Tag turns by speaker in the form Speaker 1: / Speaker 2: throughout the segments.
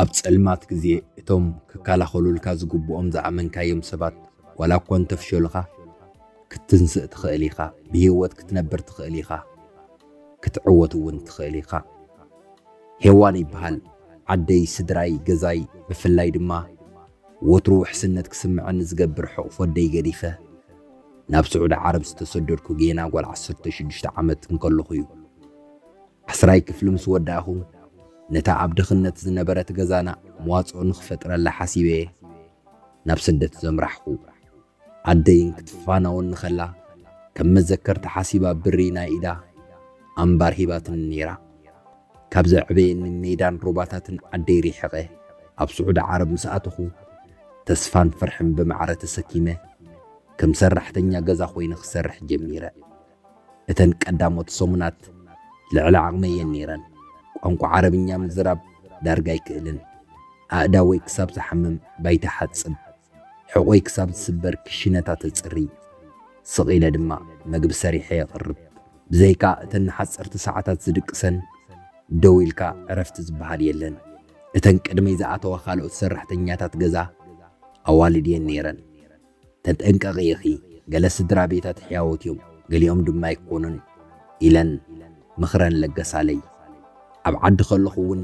Speaker 1: ኣብ ጸልማት ግዜ እቶም ክከላኸሉልካ ዝግብኦም ዝኣመንካዮም ሰባት ዋላ እኳ እንተፍሸሉኻ ክትንስእ ትኽእል ኢኻ፣ ብህይወት ክትነብር ትኽእል ኢኻ፣ ክትዕወት እውን ትኽእል ኢኻ። ሄዋን ይበሃል ዓደይ ስድራይ ገዛይ ብፍላይ ድማ ወትሩ ውሕስነት ክስመዐኒ ዝገብር ሕቕፎ ኣደይ ገዲፈ ናብ ስዑዲ ዓረብ ዝተሰደድኩ ጌና ጓል ዓሰርተ ሽዱሽተ ዓመት እንከለኹ እዩ። ዓስራይ ክፍሊ ምስ ወዳእኹ ነታ ኣብ ድኽነት ዝነበረት ገዛና መዋጽኦ ንኽፈጥረላ ሓሲበ'የ ናብ ስደት ዘምራሕኩ። ዓደይን ክትፋናወኒ ከላ ከም መዘከርታ ሓሲባ ብሪ ናይ ኢዳ ኣምባር ሂባትኒ ነይራ። ካብ ዘዕበየኒ ሜዳን ሩባታትን ዓደይ ሪሕቐ ኣብ ስዑዲ ዓረብ ምስ ኣተኹ፣ ተስፋን ፍርሕን ብማዕረ ተሰኪመ ከም ሰራሕተኛ ገዛ ኮይነ ክሰርሕ ጀሚረ። እተን ቀዳሞት ሰሙናት ልዕሊ ዓቕመይ እየን ነይረን። ቋንቋ ዓረብኛ ምዝራብ ዳርጋ ኣይክእልን። ኣእዳወይ ክሳብ ዝሓምም ባይታ እሓጽብ። ሕቖይ ክሳብ ዝስበር ክሽነታት እጽሪ፣ ስቕ ኢለ ድማ መግቢ ሰሪሐ የቕርብ። ብዘይካ እተን ንሓጸርቲ ሰዓታት ዝድቅሰን፣ ደው ኢልካ ዕረፍቲ ዝበሃል የለን። እተን ቅድመይ ዝኣተዋ ካልኦት ሰራሕተኛታት ገዛ ኣዋልድ እየን ነይረን። ተጠንቀቒ ኢኺ፣ ገለ ስድራቤታት ሕያዎት እዮም፣ ገሊኦም ድማ ኣይኰኑን ኢለን ምኽረን ለገሳለይ። ኣብ ዓዲ ከለኹ'ውን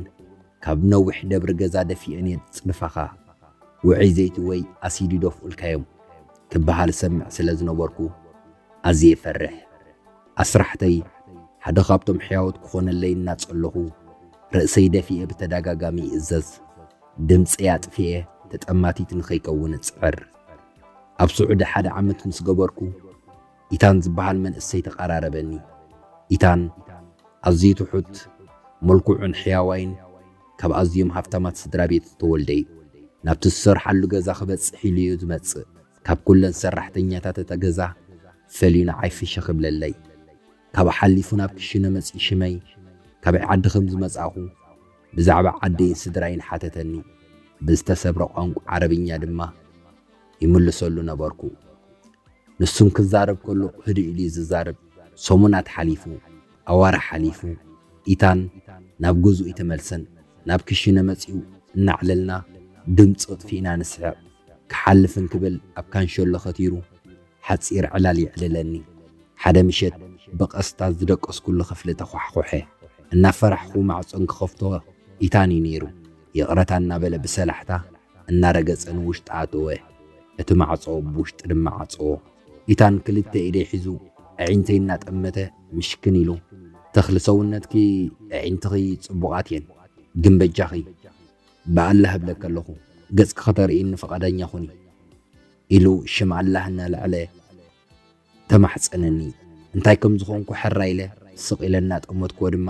Speaker 1: ካብ ነዊሕ ደብሪ ገዛ ደፊኤን እየ ዝጽድፋኻ። ውዑይ ዘይቲ ወይ ኣሲዲ ዶፍኡልካዮም ክበሃል እሰምዕ ስለ ዝነበርኩ ኣዝየ እፈርሕ። ኣስራሕተይ ሓደ ካብቶም ሕያዎት ክኾነለይ እናጸለኹ ርእሰይ ደፊኤ ብተዳጋጋሚ ይእዘዝ። ድምጸይ ኣጥፊኤ ተጠማቲት ንኸይከውን እጽዕር። ኣብ ስዑዲ ሓደ ዓመት ምስ ገበርኩ፣ ኢታን ዝበሃል መንእሰይ ተቓራረበኒ። ኢታን ኣዝዩ ትሑት፣ ምልኩዑን ሕያዋይን ካብ ኣዝዮም ሃፍታማት ስድራ ቤት ዝተወልደ'ዩ። ናብቲ ዝሰርሓሉ ገዛ ክበጽሕ ኢሉ'ዩ ዝመጽእ። ካብ ኩለን ሰራሕተኛታት እታ ገዛ ፈልዩ ንዓይ ፍሽኽ ይብለለይ። ካብኡ ሓሊፉ ናብ ክሽነ መጺኡ ሽመይ፣ ካበይ ዓዲ ከም ዝመጻእኩ፣ ብዛዕባ ዓደይን ስድራይን ሓተተኒ። ብዝተሰብረ ቋንቋ ዓረብኛ ድማ ይምልሰሉ ነበርኩ። ንሱን ክዛረብ ከሎ ህድእ ኢሉ'ዩ ዝዛረብ። ሰሙናት ሓሊፉ። ኣዋርሕ ሓሊፉ። ኢታን ናብ ገዝኡ ኣይተመልሰን። ናብ ክሽነ መጺኡ እናዕለልና ድምጺ ኣጥፊእና ንስሕቕ። ክሓልፍ እንክብል ኣብ ካንሸሎ ከቲሩ ሓጺር ዕላል የዕልለኒ። ሓደ ምሸት ብቐስታ ዝደቀስኩሉ ክፍሊ ተዃሕዂሐ። እናፈራሕኩ ማዕጾ እንክኸፍቶ ኢታን'ዩ ነይሩ። ይቕረታ እናበለ ብሰላሕታ እናረገጸ ንውሽጢ ኣተወ። እቲ ማዕጾ ብውሽጢ ድማ ዓጸዎ። ኢታን ክልተ ኢደይ ሒዙ ኣዒንተይ እናጠመተ ምሽክን ኢሉ፣ ተኽሊ ሰውነትኪ ኣዒንትኺ ጽቡቓት እየን፣ ግን በጃኺ ብኣላህ እብለኪ ኣለኹ ገጽኪ ከተርእይኒ ፍቓደኛ ኹኒ ኢሉ ሽም ኣላህ እናለዐለ ተማሕጸነኒ። እንታይ ከም ዝኾንኩ ሕራይ ኢለ ስቕ ኢለ እናጠመትኩዎ ድማ፣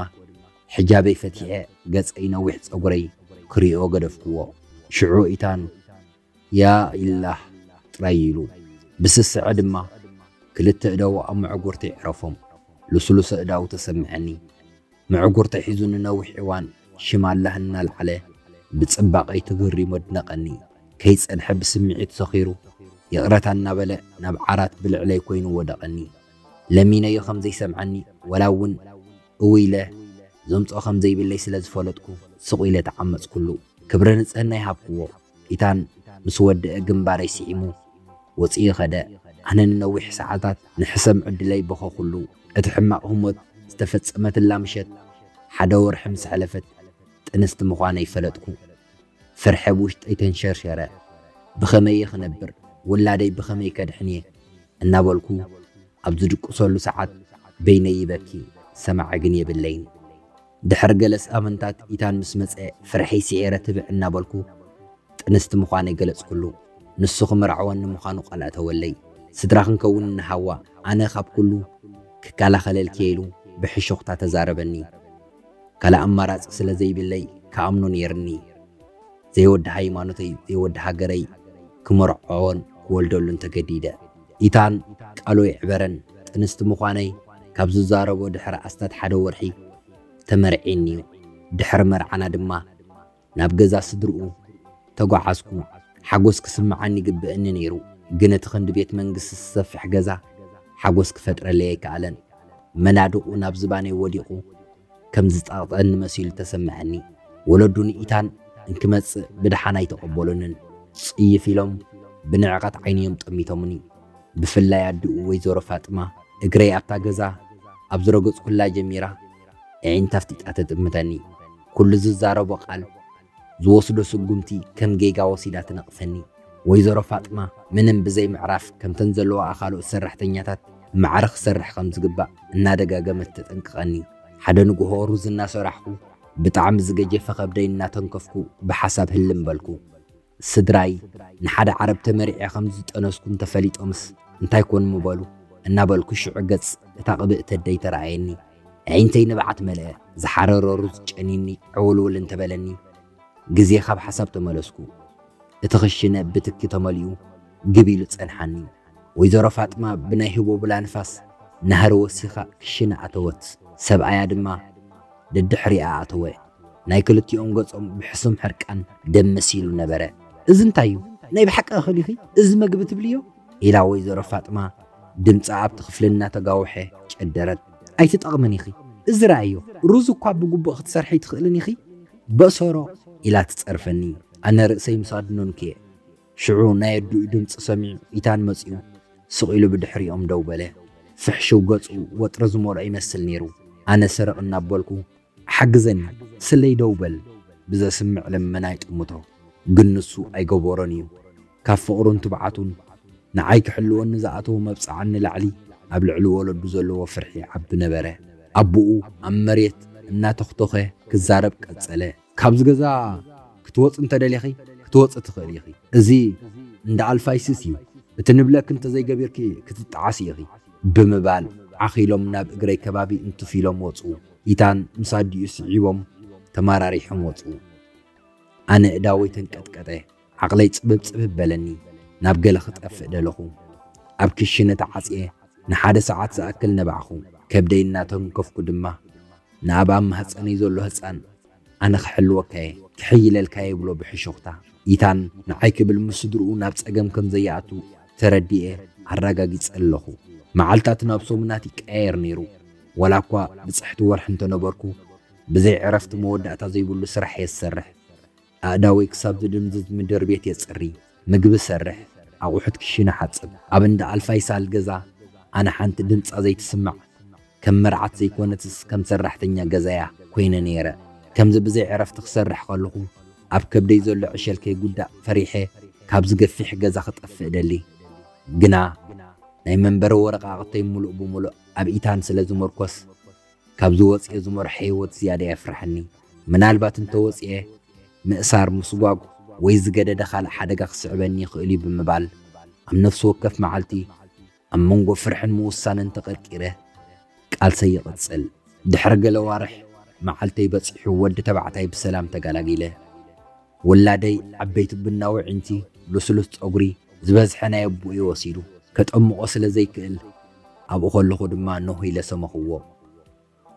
Speaker 1: ሕጃበይ ፈቲሐ ገጸይ ነዊሕ ጸጉረይ ክርእዮ ገደፍኩዎ። ሽዑ ኢታን፣ ያ ኢላህ! ጥራይ ኢሉ። ብስስዐ ድማ ክልተ እዳዉ ኣብ መዕጉርተይ ዕረፎም። ልስሉስ ኣእዳዉ ተሰምዐኒ። ምዕጉርተይ ሒዙ ንነዊሕ እዋን ሽም ኣላህ እናልዓለ ብጽባቐይ ተገሪሙ ኣድነቐኒ። ከይጸንሐ ብስምዒት ሰኺሩ ይቕረታ እናበለ ናብ ዓራት ብልዕለይ ኮይኑ ወደቐኒ። ለሚነዮ ከም ዘይሰምዓኒ ዋላ እውን እውይ ኢለ ዘምጽኦ ከም ዘይብለይ ስለ ዝፈለጥኩ ስቕ ኢለ ተዓመጽኩሉ። ክብረ ንጽህና ይሃብክዎ። ፒታን ምስ ወደኣ ግንባረይ ስዒሙ ወጺኡ ከደ። ኣነ ንነዊሕ ሰዓታት ንሕሰም ዕድለይ በኸኹሉ። እቲ ሕማቕ ህሞት ዝተፈጸመትላ ምሸት ሓደ ወርሒ ምስ ኣሕለፈት ጥንስቲ ምዃነይ ፈለጥኩ። ፍርሒ ኣብ ውሽጠይ ተንሸርሸረ። ብኸመይ'የ ክነብር? ውላደይ ብኸመይ ከድሕን'የ? እናበልኩ ኣብ ዝድቅሰሉ ሰዓት በይነይ ይበኪ፣ ሰማዒ ግን የብለይን። ድሕሪ ገለ ስኣምንታት ኢታን ምስ መጸ ፍርሐይ ሲዒረ ትብዕ እናበልኩ ጥንስቲ ምዃነይ ገለጽኩሉ። ንሱ ክምርዐወኒ ምዃኑ ቃል ኣእተወለይ። ስድራ ክንከውን ኢና ሃዋ ኣነ ካብ ኩሉ ክከላኸለልኪ'የ ኢሉ ብሕሹኽታ ተዛረበኒ። ካልእ ኣማራጺ ስለ ዘይብለይ ክኣምኖ ነይርኒ። ዘይወዲ ሃይማኖተይ ዘይወዲ ሃገረይ ክምርዖዎን ክወልደሉን ተገዲደ። ኢታን ቃሉ ይዕበረን ጥንስቲ ምዃነይ ካብ ዝዛረቦ ድሕሪ ኣስታት ሓደ ወርሒ ተመርዒኒ'ዩ። ድሕሪ መርዓና ድማ ናብ ገዛ ስድርኡ ተጓዓዝኩ። ሓጎስ ክስምዓኒ ይግበእኒ ነይሩ፣ ግን እቲ ክንዲ ቤት መንግስቲ ዝሰፍሕ ገዛ ሓጎስ ክፈጥረለይ ኣይከኣለን። መናድቑ ናብ ዝባነይ ወዲቑ። ከም ዝጸቕጠኒ መሲሉ ተሰመዐኒ። ወለዱ ንኢታን እንክመጽእ ብደሓን ኣይተቐበሉንን። ጽይፍ ኢሎም ብንዕቐት ዓይኒ'ዮም ጠሚቶምኒ። ብፍላይ ኣዲኡ ወይዘሮ ፋጥማ እግረይ ኣብታ ገዛ ኣብ ዝረገጽኩላ ጀሚራ፣ ኣዒንታ ኣፍጢጣ ተጥምተኒ። ኩሉ ዝዛረቦ ቃል ዝወስዶ ስጉምቲ ከም ጌጋ ወሲዳ ትነቕፈኒ። ወይዘሮ ፋጥማ ምንም ብዘይ ምዕራፍ ከምተን ዘለዋኣ ካልኦት ሰራሕተኛታት ብማዕረ ክሰርሕ ከም ዝግባእ እናደጋገመት ተጠንቅቐኒ። ሓደ ንጉሆ ሩዝ እናሰራሕኩ ብጣዕሚ ዝገጀፈ ከብደይ እናተንከፍኩ ብሓሳብ ህልም በልኩ። ስድራይ ንሓደ ዓረብ ተመሪዔ ከም ዝጠነስኩ እንተፈሊጦምስ እንታይ ኮን ምበሉ? እናበልኩ ሽዑ ገጽ እታ ቅብእቲ ኣደይ ተራኣየኒ። ኣዒንተይ ንብዓት መልአ፣ ዝሓረረ ሩዝ ጨንዩኒ ዕውልውል እንተበለኒ ግዜ ካብ ሓሳብ ተመለስኩ። እቲ ክሽነ ብትኪ ተመሊኡ ግብ ኢሉ ጸንሓኒ። ወይዘሮ ፋጥማ ብናይ ህቦብላ ንፋስ ናህሪ ወሲኻ ክሽነ ኣተወት፣ ሰብኣያ ድማ ደድሕሪኣ ኣተወ። ናይ ክልቲኦም ገጾም ብሕሱም ሕርቃን ደም መሲሉ ነበረ። እዚ እንታይ'ዩ? ናይ ብሓቂ እኽል ኢኺ እዚ መግቢ ትብልዮ? ኢላ ወይዘሮ ፋጥማ ድምጻ ኣብቲ ክፍሊ እናተጋውሐ ጨደረት። ኣይትጠቕምን ኢኺ፣ እዚ ረኣይዮ፣ ሩዝ እኳ ብግቡእ ክትሰርሒ ኣይትኽእልን ኢኺ፣ በእሰሮ! ኢላ ትጸርፈኒ፣ ኣነ ርእሰይ ምስ ኣድነንኩ'የ። ሽዑ ናይ ኣዲኡ ድምጺ ሰሚዑ ኢታን መጺኡ ስቕ ኢሉ ብድሕሪኦም ደው በለ። ፍሕሽው ገጹ ወጥሪ ዝመልኦ ይመስል ነይሩ፣ ኣነ ስርቕ እናበልኩ ሓግዘኒ ስለይ ደው በል ብዘስምዕ ልመና ይጥምቶ ግን ንሱ ኣይገበሮን እዩ ካብ ፍቅሩን ትብዓቱን ንዓይ ክሕልወኒ ዝኣተዎ መብጽዓን ንላዕሊ ኣብ ልዕሊ ወለዱ ዘለዎ ፍርሒ ይዓቢ ነበረ ኣቡኡ ኣብ መሬት እናተኽቶኸ ክዛረብ ቀጸለ ካብዚ ገዛ ክትወጽ እንተደሊኺ ክትወጽ ትኽእሊ ኢኺ እዚ እንዳ ኣልፋይስስ እዩ እቲ ንብለኪ እንተዘይገቢርኪ ክትጠዓሲ ኢኺ ብምባል ዓኺሎም ናብ እግረይ ከባቢ እንትፍ ኢሎም ወጹ። ሚታን ምስ ኣዲኡ ስዒቦም ተመራሪሖም ወጹ። ኣነ እዳወይ ተንቀጥቀጠ፣ ዓቕለይ ጽብብጽብብ በለኒ፣ ናብ ገለ ክጠፍእ ደለኹ። ኣብ ክሽነ ተዓጽየ ንሓደ ሰዓት ዝኣክል ነባዕኩ፣ ከብደይ እናተንከፍኩ ድማ ንኣብ ኣብ ማህጸነይ ዘሎ ህጻን ኣነ ክሕልወካ'የ፣ ክሕይለልካ'የ ይብሎ ብሕሹኽታ። ይታን ንዓይ ክብል ምስ ስድርኡ ናብ ጸገም ከም ዘያኣቱ ተረዲኤ ኣራጋጊጸ ኣለኹ። መዓልታት ናብ ሰሙናት ይቀያየር ነይሩ። ዋላኳ ብጽሕቲ ወርሒ እንተ ነበርኩ፣ ብዘይ ዕረፍቲ መወዳእታ ዘይብሉ ስራሕ'የ ዝሰርሕ። ኣእዳወይ ክሳብ ዝድንዝዝ ምድርቤት የጽሪ። ምግቢ ሰርሕ፣ ኣቑሑት ክሽነ ሓጽብ። ኣብ እንዳ ኣልፋይ ሳል ገዛ ኣነ ሓንቲ ድምጻ ዘይትስማዕ ከም መርዓት ዘይኮነትስ ከም ሰራሕተኛ ገዛ'ያ ኮይነ ነይረ። ከምዚ ብዘይ ዕረፍቲ ክሰርሕ ከለኹ ኣብ ከብደይ ዘሎ ዕሸል ከይጉዳእ ፈሪሐ ካብዚ ገፊሕ ገዛ ክጠፍእ እደሊ። ግና ናይ መንበሪ ወረቓቕተይ ምሉእ ብምሉእ ኣብ ኢታን ስለ ዝምርኮስ፣ ካብዚ ወጽየ ዝመርሖ ህይወት ዝያዳ የፍርሓኒ። ምናልባት እንተ ወጽየ፣ ምእሳር፣ ምስጓጕ ወይ ዝገደደ ካልእ ሓደጋ ክስዕበኒ ይኽእል'ዩ ብምባል፣ ኣብ ነፍሲ ወከፍ መዓልቲ ኣብ መንጎ ፍርሕን ምውሳንን ተቐርቂረ ቃልሰይ ይቕጽል። ድሕሪ ገለ ኣዋርሕ፣ መዓልተይ በጺሑ ወዲ ተባዕታይ ብሰላም ተጋላጊለ። ውላደይ ዓበይቲ ቡናዊ ኣዒንቲ ልስሉስ ጸጉሪ ዝበዝሐ ናይ ኣቡኡ'ዩ ወሲዱ፣ ከጠምቖ ስለ ዘይክእል ኣብኡ ከለኹ ድማ ኖህ ኢለ ሰመኽዎ።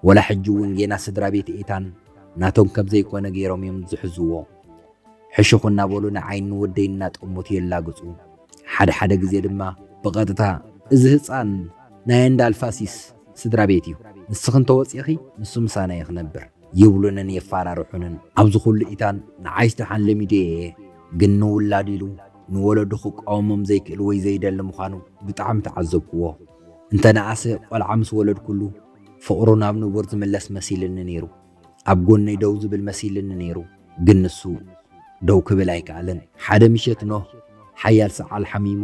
Speaker 1: ወላ ሕጂ'ውን ጌና ስድራቤት ኤታን ናቶም ከም ዘይኮነ ገይሮም'ዮም ዝሕዝዎ። ሕሹኽ እናበሉ ንዓይን ንወደይን እናጠመቱ የላግጹ፣ ሓደ ሓደ ግዜ ድማ ብቐጥታ፣ እዚ ህጻን ናይ ኣንዳልፋሲስ ስድራቤት'ዩ፣ ንስኺ እንተ ወጺእኺ ንሱ ምሳና'ዩ ክነብር። ይብሉንን የፋራርሑንን። ኣብዚ ኩሉ ኢታን ንዓይስ ደሓን ለሚደዮ እየ ግን ንውላዱ ኢሉ ንወለዱ ክቋወሞም ዘይክእል ወይ ዘይደሊ ምዃኑ ብጣዕሚ ተዓዘብኩዎ። እንተ ነኣሰ ቆልዓ ምስ ወለድኩሉ ፍቕሩ ናብ ንቡር ዝምለስ መሲልኒ ነይሩ። ኣብ ጎነይ ደው ዝብል መሲልኒ ነይሩ ግን ንሱ ደው ክብል ኣይከኣለን። ሓደ ምሸት ኖህ ሓያል ሰዓል ሓሚሙ።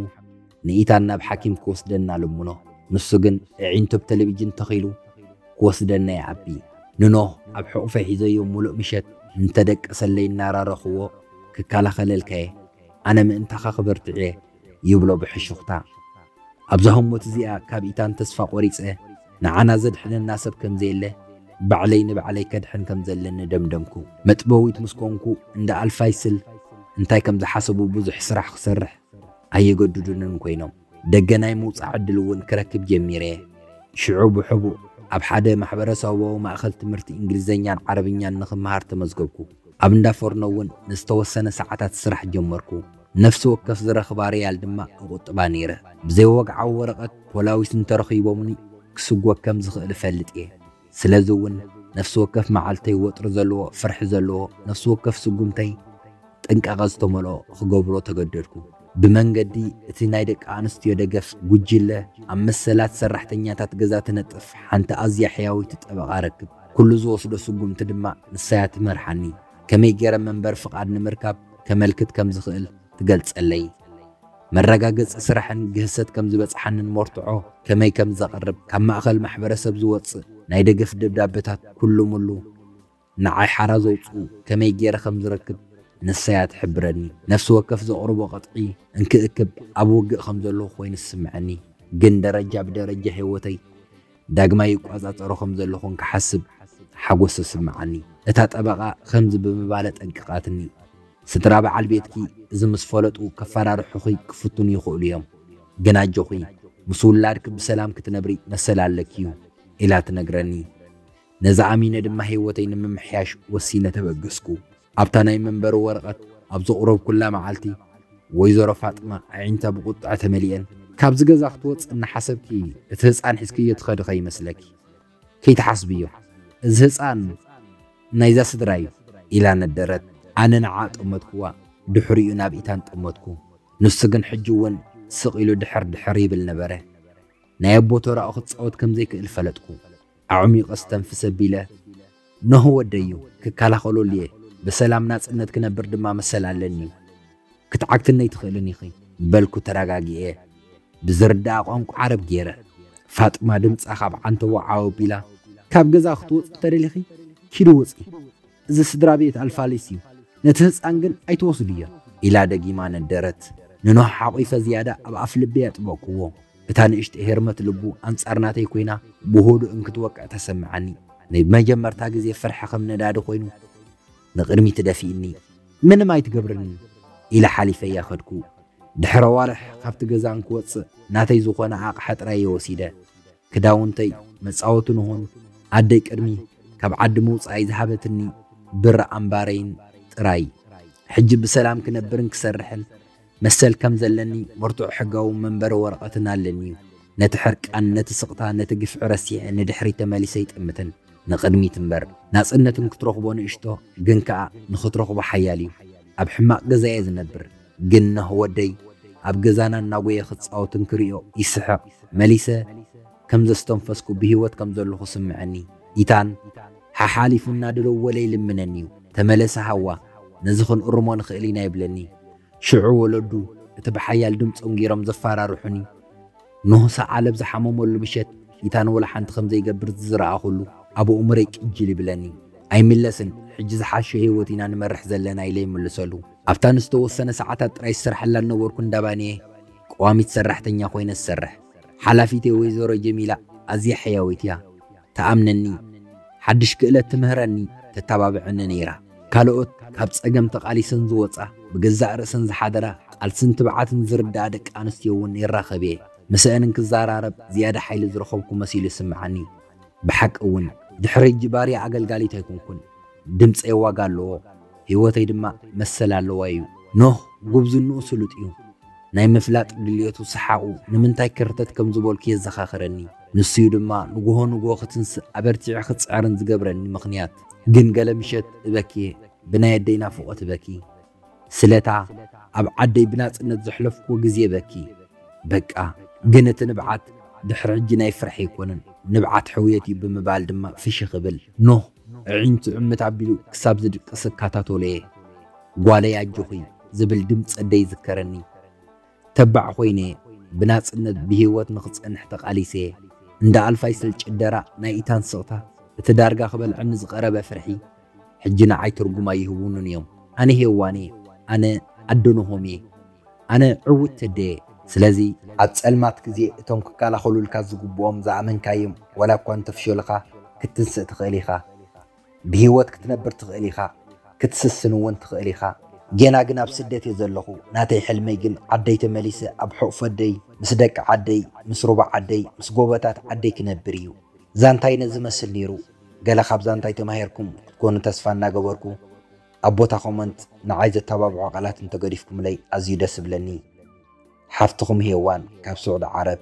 Speaker 1: ንኢታን ናብ ሓኪም ክወስደና ልምኖ፣ ንሱ ግን እዒንቱ ኣብ ተለቪጅን ተኺሉ፣ ክወስደና ይኣቢ። ንኖህ ኣብ ሕቑፈይ ሒዘዮ ምሉእ ምሸት እንተደቀሰለይ እናራረኹዎ፣ ክከላኸለልካ'የ፣ ኣነ ምእንታኻ ክበርትዕ'የ፣ ይብሎ ብሕሹኽታ። ኣብዛ ህሞት እዚኣ ካብ ኢታን ተስፋ ቆሪጸ፣ ንዓና ዘድሕነና ሰብ ከም ዘየለ፣ ባዕለይ ንባዕለይ ከድሕን ከም ዘለኒ ደምደምኩ። መጥበዊት ምስ ኮንኩ እንዳ ኣልፋይስል እንታይ ከም ዝሓሰቡ ብዙሕ ስራሕ ክሰርሕ ኣይገድዱንን ኮይኖም። ደገ ናይ ምውጻእ ዕድል እውን ክረክብ ጀሚረ። ሽዑ ብሕቡእ ኣብ ሓደ ማሕበረሰባዊ ማእከል ትምህርቲ እንግሊዝኛን ዓረብኛን ንኽመሃር ተመዝገብኩ። ኣብ እንዳ ፎርኖ እውን ንዝተወሰነ ሰዓታት ስራሕ ጀመርኩ። ነፍሲ ወከፍ ዝረኽባ ሪያል ድማ እቝጥባ ነይረ። ብዘይወግዓዊ ወረቐት ፖላዊስ እንተረኺቦምኒ ክስጐግ ከም ዝኽእል እፈልጥ እየ። ስለዚ እውን ነፍሲ ወከፍ መዓልተይ ወጥሪ ዘለዎ፣ ፍርሒ ዘለዎ፣ ነፍሲ ወከፍ ስጉምተይ ጥንቃቐ ዝተመልኦ ኽገብሮ ተገደድኩ። ብመንገዲ እቲ ናይ ደቂ ኣንስትዮ ደገፍ ጕጅለ፣ ኣብ መሰላት ሰራሕተኛታት ገዛ ትነጥፍ ሓንቲ ኣዝያ ሕያወይቲ ጠበቓ እረክብ። ኵሉ ዝወስዶ ስጕምቲ ድማ ንሳ እያ እትመርሓኒ። ከመይ ገይረ መንበሪ ፍቓድ ንምርካብ ከመልክት ከም ዝኽእል ትገልጸለይ። መረጋገጺ ስራሕን ግህሰት ከም ዝበጽሓንን መርትዖ ከመይ ከም ዘቕርብ ካብ ማእከል ማሕበረሰብ ዝወጽእ ናይ ደገፍ ደብዳበታት ኩሉሙሉ ንዓይ ሓራ ዘውጽኡ ከመይ ገይረ ከም ዝረክብ ንሳ'ያ ትሕብረኒ። ነፍሲ ወከፍ ዘቕርቦ ቅጥዒ እንክእክብ ኣብ ውግእ ከም ዘለኹ ኮይኑ ዝስምዐኒ ግን ደረጃ ብደረጃ ህይወተይ ዳግማይ ይቆጻጸሮ ከም ዘለኹ እንክሓስብ ሓጎስ ዝስምዓኒ። እታ ጠበቓ ከምዚ ብምባል ኣጠንቂቓትኒ፣ ስድራ በዓል ቤትኪ እዚ ምስ ፈለጡ ከፈራርሑኺ ክፍትኑ ይኽእሉ እዮም፣ ግን ኣጆኺ ምስ ውላድኪ ብሰላም ክትነብሪ መሰል ኣለኪ እዩ ኢላ ትነግረኒ። ነዚ ኣሚነ ድማ ህይወተይ ንምምሕያሽ ወሲነ ተበገስኩ። ኣብታ ናይ መንበሪ ወረቐት ኣብ ዘቑረብኩላ መዓልቲ፣ ወይዘሮ ፋጥማ ኣዒንታ ብቑጥዐ ተመሊኤን፣ ካብዚ ገዛ ክትወጽኢ እናሓሰብኪ እቲ ህጻን ሒዝክዮ ትኸዲ ከይመስለኪ። ከይትሓስብዮ። እዚ ህጻን ናይዛ ስድራ እዩ። ኢላ ነደረት። ኣነ ንዓኣ ጠመትኩዋ፣ ድሕሪኡ ናብ ኢታን ጠመትኩ። ንሱ ግን ሕጂ እውን ስቕ ኢሉ ድሕር ድሕር ይብል ነበረ። ናይ ኣቦ ተራኡ ክጻወት ከም ዘይክእል ፈለጥኩ። ኣዕሚቐ ኣስተንፍስ ኣቢለ፣ ኖህ ወደይ'ዩ፣ ክከላኸለሉ'የ፣ ብሰላም ናጽነት ክነብር ድማ መሰል ኣለኒ፣ ክትዓግትኒ ኣይትኽእልን ኢኺ፣ በልኩ ተረጋጊኤ፣ ብዝርድኣ ቋንቋ ዓረብ ገይረ። ፋጥማ ድምጻ ካብ ዓንተቦ ዓው ኣቢላ፣ ካብ ገዛ ክትወጺ እንተደሊኺ፣ ኪዲ ውጺ። እዚ ስድራቤት ኣልፋሊስ እዩ፣ ነቲ ህጻን ግን ኣይትወስድዮ። ኢላ ደጊማ ነደረት። ንኖህ ሓቚፈ ዝያዳ ኣብ ኣፍልበይ ኣጥበቕኩዎ። እታ ንእሽተይ ሄርመት ልቡ ኣንጻር ናተይ ኰይና ብህዱእ እንክትወቅዕ ተሰምዓኒ። ንመጀመርታ ግዜ ፍርሒ ከም ነዳዲ ኰይኑ ንቕድሚት ደፊእኒ። ምንም ኣይትገብርንን! ኢለ ሓሊፈያ ከድኩ። ድሕሪ ኣዋርሕ ካብቲ ገዛ እንክወጽእ ናተይ ዝዀነ ኣቕሓ ጥራይ እየ ወሲደ። ክዳውንተይ መጻወቲ ንሆን ኣደይ ቅድሚ ካብ ዓዲ ምውጻኣይ ዝሃበትኒ ብር ኣምባረይን ጥራይ ሕጂ ብሰላም ክነብርን ክሰርሕን መሰል ከም ዘለኒ መርትዖ ሕጋዊ መንበሪ ወረቐትን ኣለኒዩ ነቲ ሕርቃን ነቲ ስቕታ ነቲ ግፍዒ ረሲዐ ንድሕሪት ተመሊሰ ኣይጥምትን ንቕድሚት እምበር ናጽነት ንክትረኽቦ ንእሽቶ ግን ከኣ ንኽትረኽቦ ሓያል እዩ ኣብ ሕማቕ ገዛየ ዝነብር ግን ኖህ ወደይ ኣብ ገዛና እናጎየ ክጻወት እንክሪኦ ይስሕቕ መሊሰ ከም ዘስተንፈስኩ ብሂወት ከም ዘለኹ እስምዐኒ ኢታን ሓሓሊፉ እናደደወለ ይልምነኒዩ ተመለሰ ሃዋ ነዚ ክንእርሞ ንኽእል ኢና ይብለኒ ሽዑ ወለዱ እቲ ብሓያል ድምጾም ጌሮም ዘፋራርሑኒ ኖህ ሰዓል ኣብ ዝሓመመሉ ምሸት ኢታን ወላሓንቲ ከም ዘይገብር ዝዝረኣኹሉ ኣብ ኣእምሮይ ቅጅል ይብለኒ ኣይምለስን ሕጂ ዝሓሸ ሂወት ኢና ንመርሕ ዘለና ኢለ ይምልሰሉ። ኣብታ ንዝተወሰነ ሰዓታት ጥራይ ዝሰርሐላ ዝነበርኩ እንዳ ባኒ'የ ቀዋሚት ሰራሕተኛ ኰይነ ዝሰርሕ። ሓላፊተይ ወይዘሮ ጀሚላ ኣዝያ ሕያወይቲ'ያ። ትኣምነኒ፣ ሓድሽ ክእለት ትምህረኒ፣ ተተባብዐኒ ነይራ። ካልኦት ካብ ጸገም ተቓሊሰን ዝወጻ፣ ብገዛእ ርእሰን ዝሓደራ፣ ቃልስን ትብዓትን ዝርድኣ ደቂ ኣንስትዮ'ውን ይራኸብ'የ። ምስአን እንክዘራረብ ዝያዳ ሓይሊ ዝረኸብኩ መሲሉ ይስምዓኒ። ብሓቂ እውን ድሕሪ ሕጂ ባርያ ኣገልጋሊት ኣይኮንኩን። ድምጸይ ዋጋ ኣለዎ፣ ህይወተይ ድማ መሰል ኣለዋ ኢዩ። ኖህ ጉብዝንኡ ስሉጥ ኢዩ። ናይ ምፍላጥ ድልየቱ ሰሓቑ ንምንታይ ክርተት ከም ዝበልኩ የዘኻኽረኒ። ንሱ ኢዩ ድማ ንግሆ ንግሆ ክትንስእ ኣበርቲዐ ክጽዕርን ዝገብረኒ ምኽንያት። ግን ገለ ምሸት እበኪ፣ ብናይ ኣደይ ናፍቖት እበኪ። ስለታ ኣብ ዓደይ ብናጽነት ዘሕለፍክዎ ግዜ በኪ በቃ ግን እቲ ንብዓት ድሕሪ ሕጂ ናይ ፍርሒ ኣይኮነን ንብዓት ሕውየት እዩ ብምባል ድማ ፍሽኽ እብል ኖህ ኣዒንቱ ዕምት ኣቢሉ ክሳብ ዝድቅስ እካታቶሎ'የ ጓለይ ኣጆኺ ዝብል ድምጺ ኣደይ ይዝከረኒ ተባዕ ኮይነ'የ ብናጽነት ብሂወት ንኽጸንሕ ተቃሊሰ'የ እንዳ ኣልፋይ ስል ጭደራ ናይ ኢታን ስቕታ እቲ ዳርጋ ክበልዐኒ ዝቐረበ ፍርሒ ሕጂ ንዓይ ትርጉም ኣይህቡንን እዮም ኣነ ሄዋን እየ ኣነ ኣዶ ኖሆም እየ ኣነ ዕውት ተደ እየ ስለዚ ኣብ ጸልማት ግዜ እቶም ክካላኸሉልካ ዝግብኦም ዝኣመንካዮም ዋላ እኳ እንተፍሸሉኻ ክትትንስእ ትኽእል ኢኻ ብሂወት ክትነብር ትኽእል ኢኻ ክትስስን እውን ትኽእል ኢኻ። ጌና ግን ኣብ ስደት እየ ዘለኹ ናተይ ሕልመይ ግን ዓደይ ተመሊሰ ኣብ ሑቕፊ ኣደይ ምስ ደቂ ዓደይ ምስ ሩባ ዓደይ ምስ ጎቦታት ዓደይ ክነብር እዩ ዛንታይ ነዚ መስል ኔሩ። ገለ ካብ ዛንታይ ተማሂርኩም ክትኮኑ ተስፋ እናገበርኩ ኣብ ቦታ ኮመንት ንዓይ ዘተባብዑ ቃላት እንተገዲፍኩምለይ ኣዝዩ ደስ እብለኒ ሓፍትኩም ሄዋን ካብ ስዑዲ ዓረብ።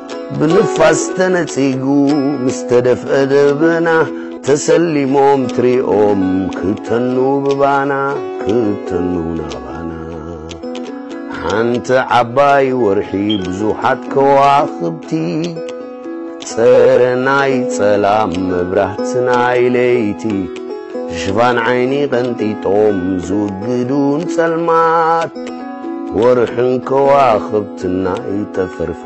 Speaker 2: ብንፋስ ተነጺጉ ምስ ተደፍአ ደበና ተሰሊሞም ትሪኦም ክተኑ ብባና ክተኑ ናባና ሓንቲ ዓባይ ወርሒ ብዙሓት ከዋኽብቲ ጸረ ናይ ጸላም መብራህቲ ናይ ለይቲ ሽፋን ዓይኒ ቀንጢጦም ዝውግዱን ጸልማት ወርሕን ከዋኽብቲ ናይ ጠፈር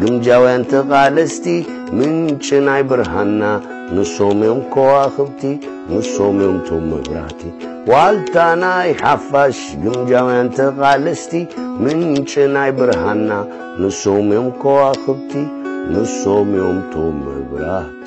Speaker 2: ግምጃውያን ተቓለስቲ ምንጪ ናይ ብርሃንና ንሶም እዮም ከዋኽብቲ ንሶም እዮም ቶም መብራህቲ ዋልታ ናይ ሓፋሽ ግምጃውያን ተቓለስቲ ምንጪ ናይ ብርሃንና ንሶም እዮም ከዋኽብቲ ንሶም እዮም ቶም መብራህቲ